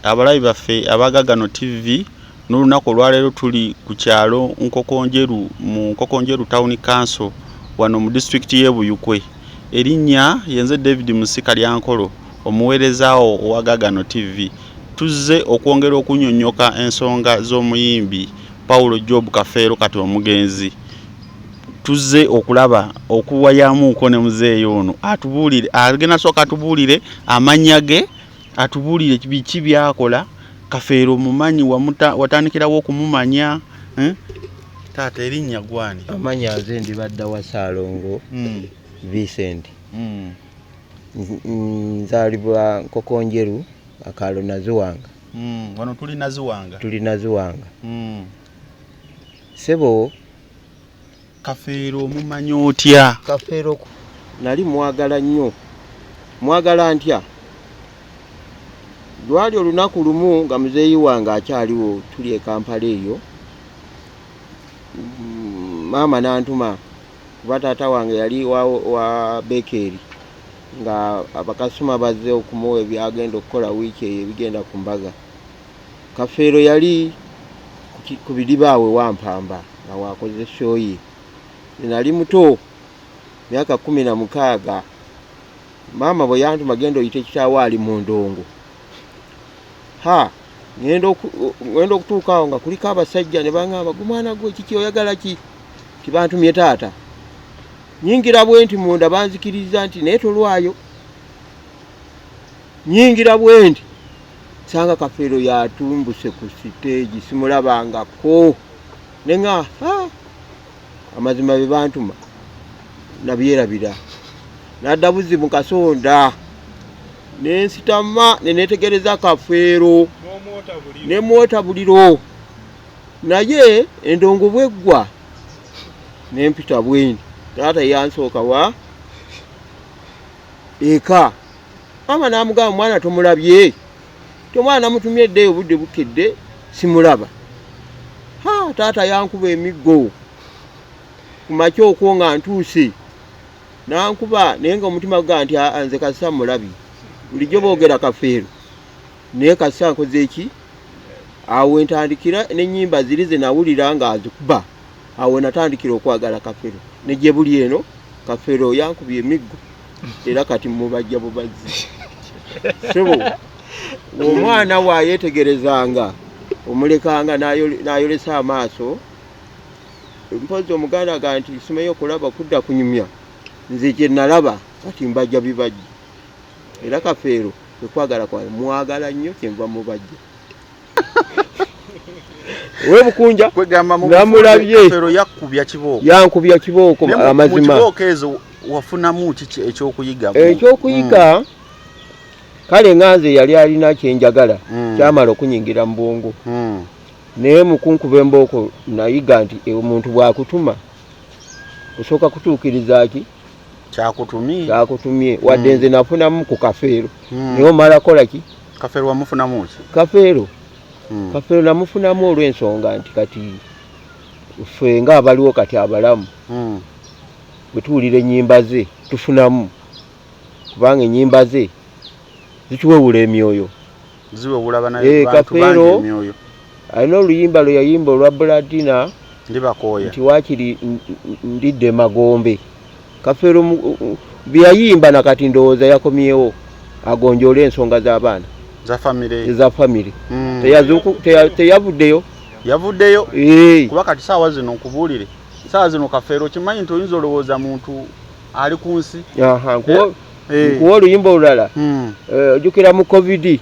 Abalabi baffe abaga gano TV n'olunaku olwaleero tuli ku kyalo Nkokonjeru mu Nkokonjeru Town Council wano mu disitulikiti y'e Buyukwe. Erinnya yenze David Musika Lyankolo omuweerezaawo owa Gagano TV. Tuzze okwongera okunnyonnyoka ensonga z'omuyimbi Paulo Job Kafeero kati omugenzi. Tuzze okulaba okuwayamuuko ne muzeeyi ono atubuulire agenda sooka atubuulire amannya ge atubuulire biki byakola kafeero omumanyi watandikirawo okumumanya eh? taata erinnya gwani amanya nze ndibadda wa saalongo hmm. vincent hmm. nzaalibwa nkokonjeru akaalo naziwanga hmm, wano tuli naziwanga tuli naziwanga sebo Kafeero omumanya otya? Kafeero nali mwagala nnyo. Mwagala ntya? Lwali olunaku lumu nga muzeeyi wange akyaliwo tuli e Kampala eyo. Mm, maama n'antuma kuba taata wange yali wa, wa bekeeri nga abakasitoma bazze okumuwa ebyagenda okukola wiiki eyo ebigenda ku mbaga. Kafeero yali ku bidiba awe Wampamba nga waakoze shoyi. Nali muto myaka kumi na mukaaga maama bwe yantuma genda oyita ekitaawo ali mu ndongo ha ŋenda okutuuka awo nga kuliko abasajja ne baŋamba gu mwana gwe kiki oyagala ki tibantumye taata nyingira bwe nti munda banzikiriza nti naye tolwayo nyingira bwe nti sanga kafeero yatumbuse ku siteegi simulabangako ne nga amazima be bantuma nabyerabira nadda buzi mu kasonda nensitama nenetegereza kafeero nemwota buliro naye endongo bweggwa nempita bweni taata yansooka wa eka maama n'amugamba mwana tomulabye tomwana namutumye edde obudde bukedde simulaba ha taata yankuba emiggo ku makya okwo nga ntuuse nankuba naye nga omutima guga nti nze kasisa mulabye bulijjo boogera kafeero naye kasisa nkoze eki awo entandikira n'ennyimba ziri ze nawulira nga azikuba awo natandikira okwagala kafeero ne gye buli eno kafeero yankubye emiggo era kati mubajja bubazzi sebo omwana wayetegerezanga omulekanga nayolesa amaaso mpozi omuganda ga nti simeyo okulaba kudda kunyumya nze kyenalaba kati mbajja bibajja era kafeero ekwagala kwa mwagala nnyo kyenva mubajja we bukunja namulabye yankubya kibooko amazima wafunamu kiki ekyokuyiga ekyokuyiga hmm. kale nga nze yali alina kyenjagala hmm. kyamala okunyingira mu bwongo hmm. naye mukunkuba embooko nayiga nti e, omuntu bwakutuma osooka kutuukiriza ki kyakutumye kyakutumye wadde hmm. nze nafunamu ku kafeero hmm. naye omala kola ki kafeero wamufunamu ki kafeero hmm. kafeero namufunamu olw'ensonga nti kati ffe nga abaliwo kati abalamu bwe tuwulira ennyimba ze tufunamu kubanga ennyimba ze zituwewula emyoyo ziwewula banaye bantu bangi emyoyo alina oluyimba lwe yayimba olwa buladina ndibakooya nti wakiri ndidde magombe kafeero byeyayimba nakati ndowooza yakomyewo agonjoole ensonga z'abaana eza famire mm. teyavuddeyo yavuddeyo kuba kati saawa zino nkubuulire saawa zino kafeero kimanyi nti oyinza olowooza muntu ali ku nsi eh. nkuwa oluyimba olulala hmm. eh, ojukira mu covid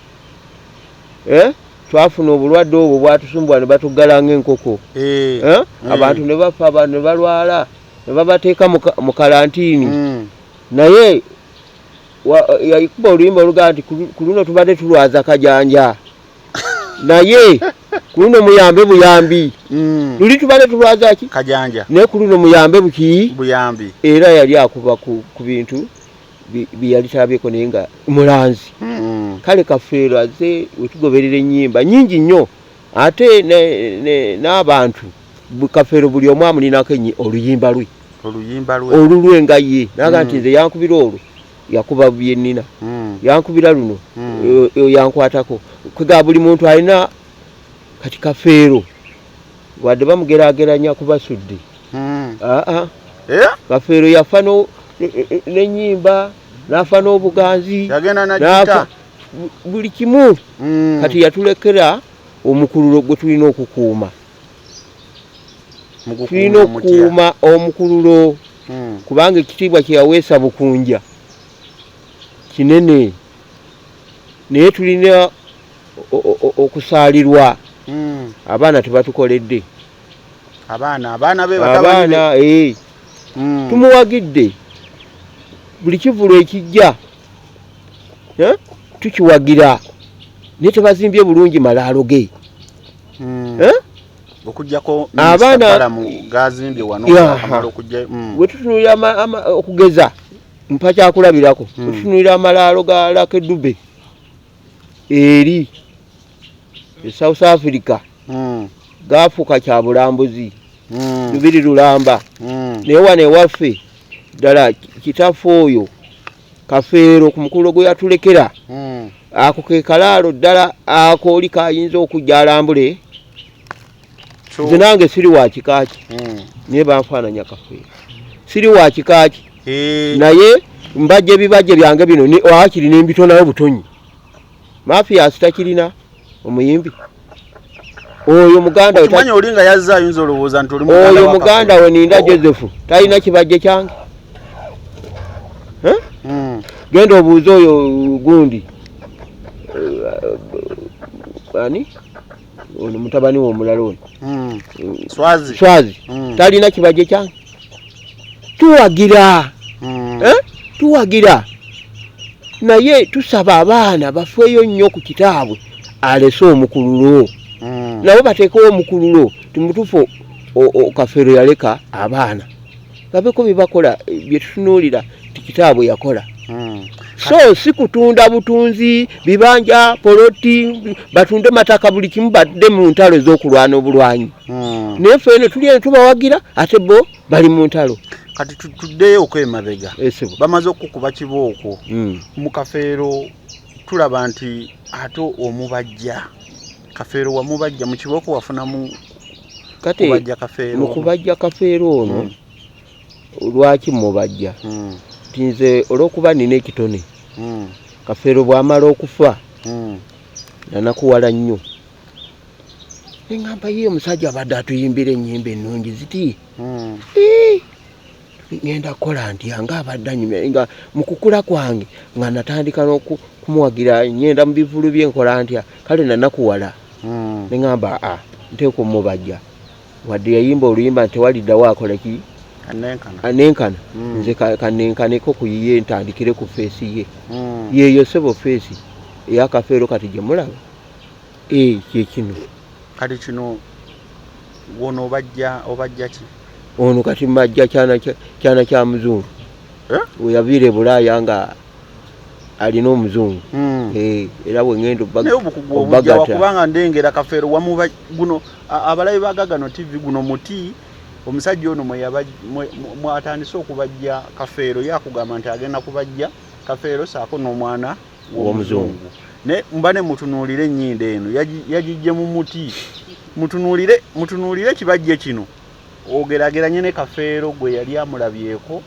eh? twafuna obulwadde obwo bwatusumbwa ne batuggala ngaenkoko hmm. abantu ne bafa abantu ne balwala ne babateeka mu kalantiini hmm. naye yaikuba oluyimba olugaa nti ku luno tubadde tulwaza kajanja naye kuluno muyambe buyambi mm. luli tubale tulwazaki kajanja naye kuluno muyambe buki buyambi era yali akuba ku, ku bintu byeyalitabyeko naye nga mulanzi mm. kale kafeero aze wetugoberera enyimba nyingi nnyo ate n'abantu kafeero buli omu amulinako oluyimba lwe olulwe nga ye naga nti mm. nze yankubira olwo yakuba bye nnina hmm. yankubira luno hmm. yankwatako kwega buli muntu alina kati kafeero wadde bamugerageranya ku basudde hmm. aa ah, ah. eh? kafeero yafa nenyimba nafa n'obuganzi nafa buli kimu kati yatulekera omukululo gwe tulina okukuuma tulina okukuuma omukululo hmm. kubanga ekitiibwa kyeyaweesa bukunja kinene naye tulina okusaalirwa hmm. abaana tebatukoledde abaana abaana be abaana ee eh. hmm. tumuwagidde buli kivulu ekijja eh, tukiwagira naye tebazimbye bulungi malaalo ge mm. eh? okujjako abaanabalamu gazimbye wano akamala okujja mm. wetutunulira okugeza mpa kyakulabirako mm. wetutunulira amalaalo ga lake dube eri e south africa mm. gafuuka kya bulambuzi mm. lubiri lulamba mm. naye wano ewaffe ddala kitaffe oyo Kafeero ku mukululo gwe yatulekera hmm. ako ke kalaalo ddala akooli kayinza okujja alambule nze nange siri wa kika ki hmm. naye banfaananya kafeero siri wa kika ki naye mbajja ebibajja byange bino wakiri nembitonayo butonyi mafia asitakirina omuyimbi oyo muganda we tanya oli nga yazza ayinza olowooza nti oli muganda oyo muganda we ninda Joseph talina kibajje kyange eh mm. genda obuuze oyo gundi uh, ani ono mutabani we omulala ono hmm. swazi swazi hmm. talina kibaje kyange tuwagira hmm. eh? tuwagira naye tusaba abaana bafeeyo nnyo ku kitaabwe alese omukululo nabo bateekewo omukululo timutufu kafeero yaleka abaana babeko byebakola byetutunuulira ti kitaabwe yakola hmm. so si kutunda butunzi bibanja poloti batunde mataka buli kimu badde mu ntalo ez'okulwana obulwanyi hmm. naye fe eno tuli eno tubawagira ate bo bali mu ntalo kati tuddeyo okwemabega eh, bamaze okukuba kibooko hmm. mu kafeero tulaba nti ate omubajja kafeero wamubajja mu kibooko wafunamu kubajja kafeero mu kubajja kafeero ono mm. lwaki mubajja mm. ti nze olw'okuba nina ekitone mm. kafeero bw'amala okufa mm. nanakuwala nnyo eŋamba ye omusajja abadde atuyimbira ennyimba ennungi ziti mm. ngenda kukola ntya nga abadde anyumya nga mu kukula kwange nga natandika n'okumuwagira ngenda mu bivulu bye nkola ntya kale nanakuwala hmm. ne ŋamba a ah, nteekwa omubajja wadde yayimba oluyimba nti tewaliddawo akola ki anenkana hmm. nze kanenkaneko ku yiye ntandikire ku feesi ye hmm. yeeyo sebo feesi eyakafeero kati gye mulaba ee kyekino kati kino wono obajja obajja ki ono kati majja kyana kyana kya muzungu eh? weyavire bulaya nga alina omuzungu hmm. eh, era wengendo bagakubanga ndengera kafeero wamuba guno abalabi bagagano tv guno muti omusajja ono mwatandise okubajja kafeero yakugamba nti agenda kubajja kafeero saako n'omwana w'omuzungu naye mbane mutunuulire ennyindo eno yagijje mu muti mutunuulire mutunuulire kibajje kino ogerageranye ne kafeero gwe yali amulabyeko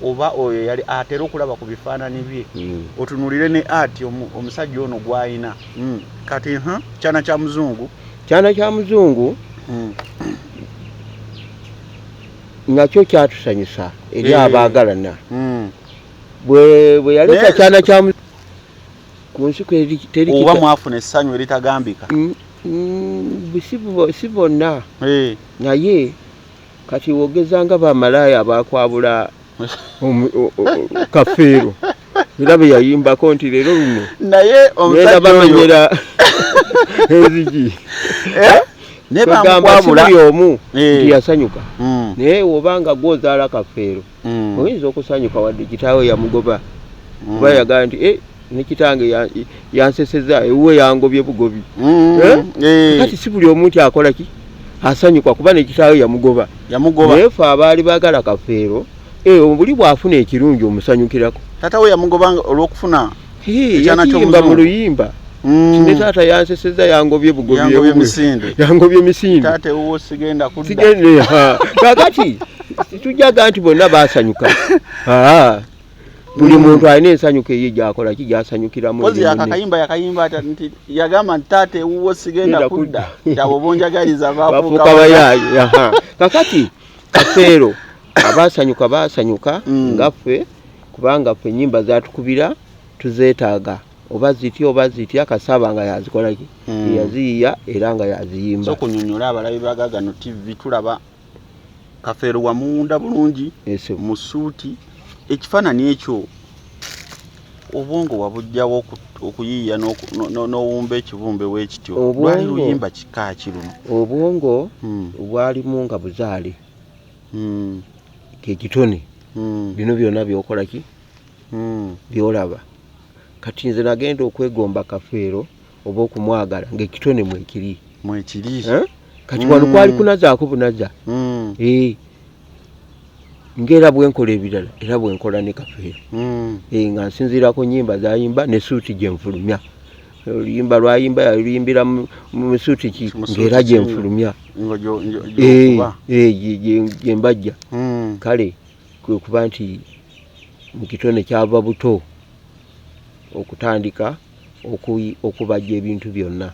oba oyo yali atera okulaba ku bifaanani bye hmm. otunuulire ne ati omusajja ono gwalina hmm. kati hm, kyana kya muzungu kyana kya muzungu hmm. nakyo kyatusanyusa eri eh. abaagalana bwe yaleta kyana kya ku nsi oba mwafuna essanyu eritagambika mm, mm, si bonna eh. naye kati wogeza nga bamalaaya abakwabula kafeero era bwe yayimbako nti leero luno naye omusajja bamenyera enzigi eh? nebamkwabula omu eh. nti yasanyuka mm. naye wobanga gwozaala kafeero mm. oyinza okusanyuka wadde kitaawe yamugoba mm. kuba yagala nti eh, ne kitange yanseseza ewuwe yangobye bugobi mm. eh? Eh. kati si buli omuntu akola ki asanyuka kuba ne kitaawe yamugoba naye fe abaali baagala kafeero obuli bw'afuna ekirungi omusanyukirako tata we yamugobanga olw'okufuna yayimba mu luyimba mm. ne taata yanseseza yangobye bugobye misinde yangobye misinde taata ewuwo sigenda kudda sigende ha kakati tujaga nti bonna basanyuka ha buli mm. muntu alina ensanyuka eyo gyakola ki gyasanyukiramu kozi yakakayimba yakayimba ata nti yagamba nti taata ewuwo sigenda kudda kyabo bonjagaliza bafuuka bayaayi kakati kafeero abasanyuka basanyuka mm. ngaffe kubanga ffe enyimba zatukubira tuzetaaga oba zitya oba zitya kasaba nga yazikolaki hmm. yaziyiya era nga yaziyimba so kunyonyola abalabi bagagano tv tulaba kafeero wamuwunda bulungi mu suuti ekifaanani ekyo obwongo wabujjawo okuyiiya n'owumba ekibumbe wekityo lwali luyimba kika ki luno obwongo hmm. bwalimu nga buzaale hmm. kekitone hmm. bino byona byokolaki hmm. byolaba kati nze nagenda okwegomba kafeero oba okumwagala ngaekitone mwekiri mwekiri eh? kati wano kwali hmm. kunazaako bunaza eh. ngaera bwenkola ebirala era bwenkola ne kafeero eh, nga nsinziirako nyimba zayimba ne suuti gyenfulumya oluyimba lwayimba yaluyimbira mu misuuti ki ngaera gyenfulumya gyembajja hmm. kale kwekuba nti mukitone kyava buto okutandika okubajja ebintu byonna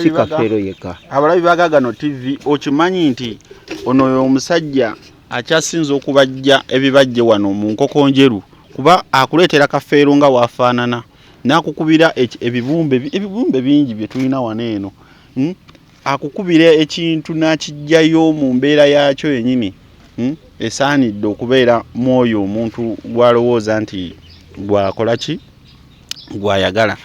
sikafeero yeka abalabi bagagano tv okimanyi nti ono oyo omusajja akyasinza okubajja ebibajje wano mu nkoko njeru kuba akuleetera kafeero nga wafaanana n'akukubira ebibumbe ebibumbe bingi bye tulina wano eno hmm? akukubira ekintu n'akijjayo mu mbeera yaakyo yennyini hmm? esaanidde okubeera mu oyo omuntu gw'alowooza nti gwakola ki gw'ayagala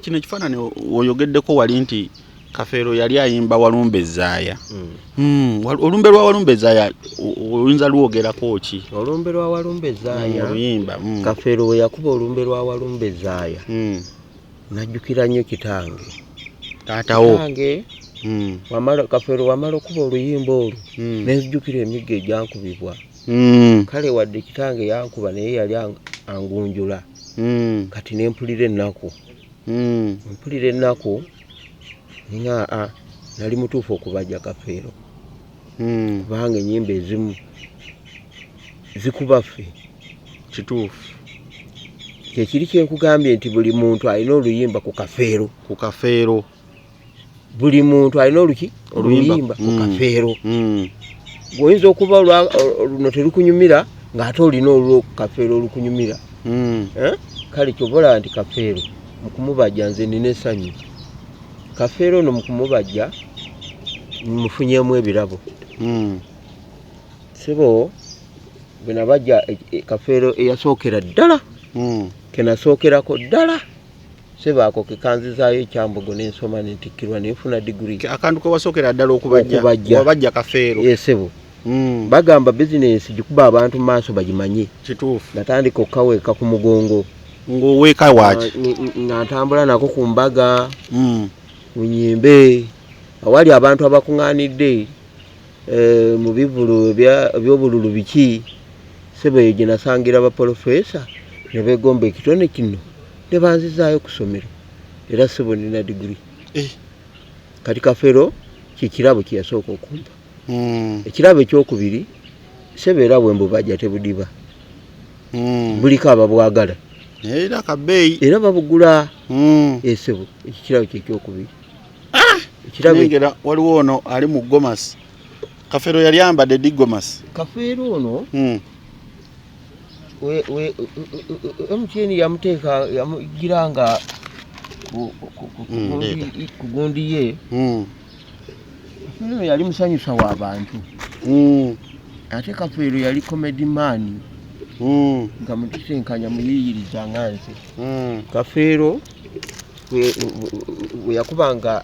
kino ekifaanani oyogeddeko wali nti kafeero yali ayimba walumbe zaaya hmm. hmm, olumbe lwa walumbe zaaya oluyinza lwogerako ki olumbe lwa walumbe zaaya hmm, oluyimba kafeero we yakuba olumbe lwa walumbe zaaya najjukira nnyo kitange taatawo kafeero wamala okuba oluyimba olwo nezijukira emigga egyankubibwa kale wadde kitange yankuba naye yali angunjula kati nempulira ennaku mm. mpulira ennaku nga a nali mutuufu okubaja kafeero mm. kubanga enyimba ezimu zikuba ffe kituufu kyekiri kyenkugambye nti buli muntu alina oluyimba ku kafeero ku kafeero buli muntu alina oluki oluyimba ku mm. kafeero mm. gweoyinza okuba luno terukunyumira ng'ate olina olwo kafeero olukunyumira mm. eh? kale kyobola nti kafeero mukumubajja nze nina esanyu kafeero ono mukumubajja mufunyemu ebirabo sibo bwenabajja e, e, kafeero eyasookera ddala kenasookerako ddala Sebo ako kekanzizaayo ekyambogo nensoma nentikkirwa nenfuna diguri. Akantu kewasookera ddala okubajja wabajja kafeero. Ye sebo mm. bagamba bizinensi gikuba abantu mu maaso bagimanye. Kituufu. Natandika okukaweeka ku mugongo. Ng'oweeka waaki? Nga ntambula nako ku mbaga mm. ku nyimbe awali abantu abakung'anidde. Eh, mu bivulu ebyobululu biki sebo eyo gye nasangira bapolofesa ne begomba ekitone kino ne banzizaayo ku ssomero era sebo nina diguli eh. kati kafero kyekirabo kye yasooka okumpa hmm. ekirabo ekyokubiri sebo era bwe mbubajja tebudiba hmm. buliko ababwagala era babuggula esebo hmm. eh, ekyo kirabo kyekyokubiri ah! ekirabengera waliwo ono ali mu gomasi kafeero yali ayambadde di gomasi kafeero ono hmm. mtn yamuteeka yamugira nga kugundi hmm, ye hmm. kafeero ono yali musanyusa wa bantu ate kafeero yali comedy maani nga mukisinkanya muyiyiriza nga nze kafeero bwe yakubanga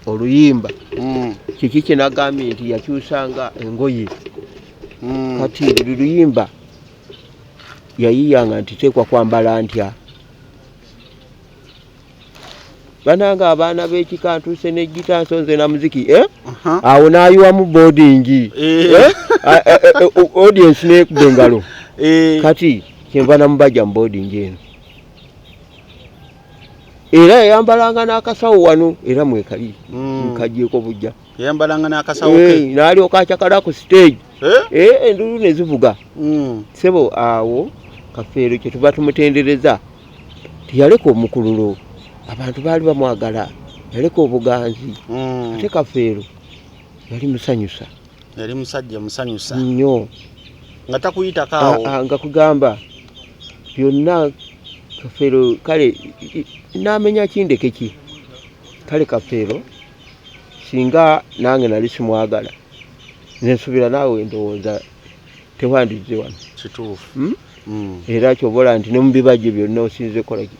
oluyimba mm. kiki kyenagambye nti yakyusanga engoye mm. kati buli luyimba yayiyanga nti teekwa kwambala ntya bananga abaana b'ekika ntuuse n'ejjita nsonze na muziki eh? awo n'ayiwamu boodingi eh. eh? audiensi n'ekuba engalo kati kyenva namubaja mu boodingi eno era yayambalanga n'akasawo wano era mwekali hmm. nkagyeko bujja yayambalanga n'akasawo ke eh, n'alyoka acakala ku stage eh? Eh, endulu ne zivuga hmm. sebo awo kafeero kye tuba tumutendereza teyaleka omukululo abantu baali bamwagala yaleka obuganzi hmm. ate kafeero yali musanyusa yali musajja musanyusa nnyo nga takuyitako ah, awo ah, nga kugamba byonna kafeero kale namenya kindeke ki kale kafeero singa nange nali simwagala nensubira naawe ndowooza tewandizze wano kituufu hmm? Hmm. era kyobola nti ne mu bibajjo byonna osinze kolaki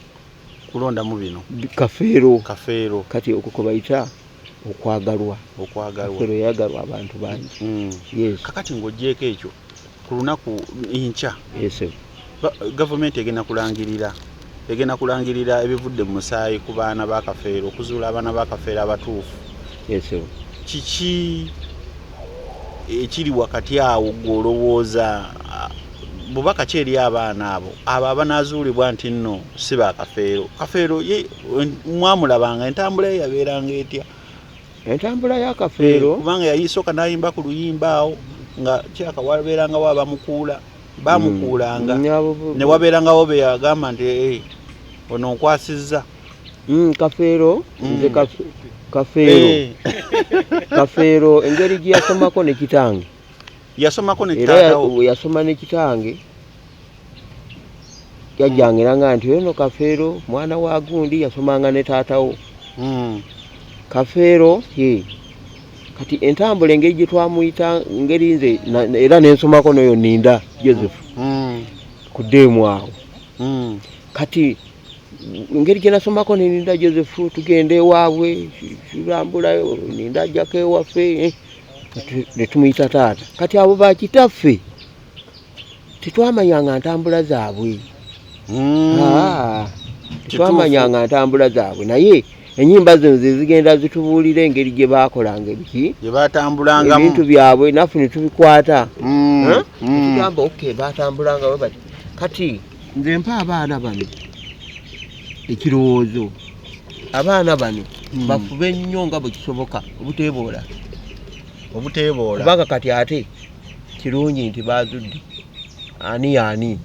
kulondamu bino kafeero kafeero kati okukobayita okwagalwa okwagalwa yagalwa abantu bangi mm. yes. kakati ng'ogyeko ekyo ku lunaku enkya yes. gavumenti egenda kulangirira egenda kulangirira ebivudde mu musaayi ku baana bakafeero okuzuula abaana bakafeero abatuufu yes. kiki ekiri wakati awo gweolowooza bubaka ki eri abaana abo abo abanazuulibwa nti nno si ba kafeero kafeero ye mwamulabanga entambula ye yabeeranga etya entambula ya kafeero eh, kubanga yayisooka nayimba ku luyimba awo nga kyaka wabeerangawo abamukuula bamukuulanga mm, ne wabeerangawo be yagamba nti eh, ono nkwasizza mm, kafeero mm. nze kafeero eh. kafeero engeri gye yasomako ne kitange yasomako netaatawo yasoma ne kitange yajjangera nga nti ono kafeero mwana wa gundi yasomanga ne taatawo hmm. kafeero ye kati entambula engeri gye twamuyita ngeri nze era nensomako noyo ninda joseph hmm. ku deemu awo hmm. kati engeri gye nasomako neninda joseph tugenda ewaabwe tulambulayo ninda ajjako ewaffe eh. ne tumuyita taata kati abo bakitaffe tetwamanyanga ntambula zaabwe hmm. ah, tetwamanyanga ntambula zaabwe naye enyimba zino zezigenda zitubuulira engeri gye baakolanga ebiki gyebatambulangamu ebintu byabwe naffe ne tubikwata hmm. Hmm. tugamba oke batambulangawe bati kati nze mpa abaana bano ekirowoozo abaana bano hmm. bafube nnyo nga bwe kisoboka obuteeboola obuteeboola kubanga kati ate kirungi nti baazudde ani ani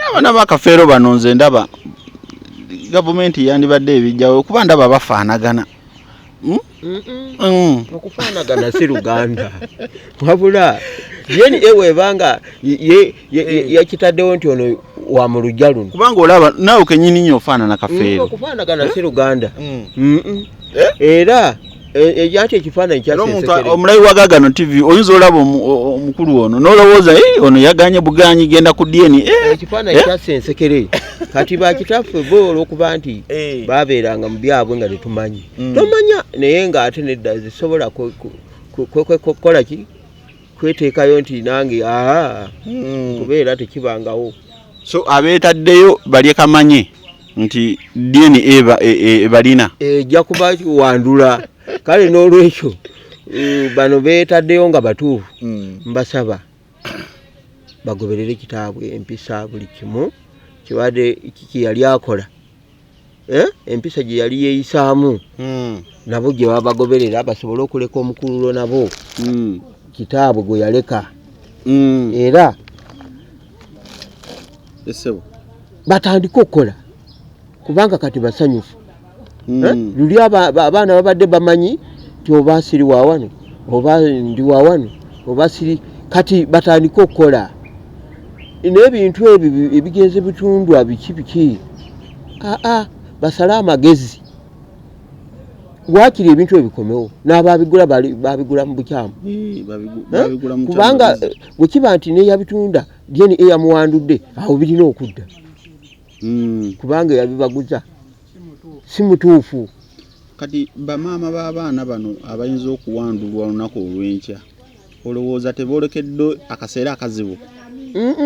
abaana bakafeero bano nze ndaba gavumenti yandibadde ebijjawo kuba ndaba bafaanagana hmm? Mm. okufaanagana si luganda wabula yeni ewebanga eh. yakitaddewo nti ono wa mu lujja luno kubanga olaba naawe kenyini nyo ofaanana kafeero mm, okufaanagana si luganda mm. eh? era ekyati eh, ekifaananyi kyaomulayi wa gagano tv oyinza olaba omukulu ono nolowooza ono yaganye buganyi genda ku dna ekifaananyi kyasensekere kati bakitaffe bo olwokuba nti babeeranga mu byabwe nga tetumanyi mm. tomanya naye nga ate nedda zisobola kwekola ki kweteekayo nti nange aa mm. kubeera tekibangawo so abeetaddeyo balye kamanye nti dna ebalina e, e, ejja kuba wandula kale n'olwekyo Eh, bano betaddeyo nga batuufu hmm. mbasaba bagoberere kitaabwe empisa buli kimu kibadde kiki yali akola eh, empisa gye yali yeeyisaamu hmm. nabo gye babagoberera basobole okuleka omukululo nabo hmm. kitaabwe gwe yaleka hmm. era esebo batandike okukola kubanga kati basanyufu eh, luli abaana babadde bamanyi ti oba siri wawano oba ndi wawano oba siri kati batandike okukola n'ebintu ebyo ebigenze bitundwa biki biki aa basale amagezi wakiri ebintu ebikomewo n'ababigula babigula mu bukyamu kubanga wekiba nti neyabitunda jeni eyamuwandudde awo birina okudda hmm. kubanga eyabibaguza si mutuufu kati bamaama b'abaana bano abayinza okuwandulwa olunaku olw'enkya olowooza tebolekedde akaseera akazibu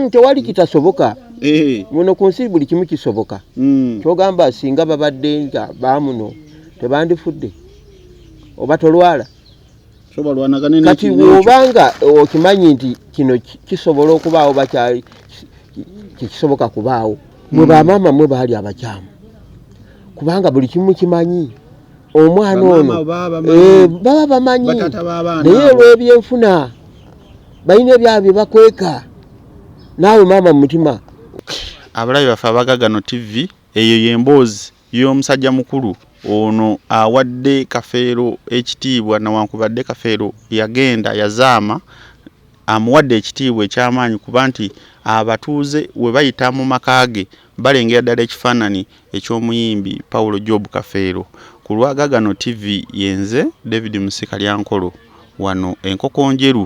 tewali kitasoboka eh. muno ku nsi buli kimu kisoboka mm. kyogamba singa babadde nga bamuno tebandifudde oba tolwala kati wobanga okimanyi nti kino kisobola okubaawo bakyali kyekisoboka kubaawo mwe mm. bamaama mwe baali abakyamu kubanga buli kimu kimanyi omwana ono eh, baba bamanyi naye olw'ebyenfuna balina ebyabo bye bakweka naawe maama mu mutima abalabi baffe abagagano tv eyo y'emboozi y'omusajja mukulu ono awadde kafeero ekitiibwa nawankubadde kafeero yagenda yazaama amuwadde ekitiibwa ekyamaanyi kuba nti abatuuze we bayita mu maka ge balengera ddala ekifaananyi eky'omuyimbi Paulo Job Kafeero ku lwa Gagano TV ye nze David Musika Lyankolo wano e Nkokonjeru.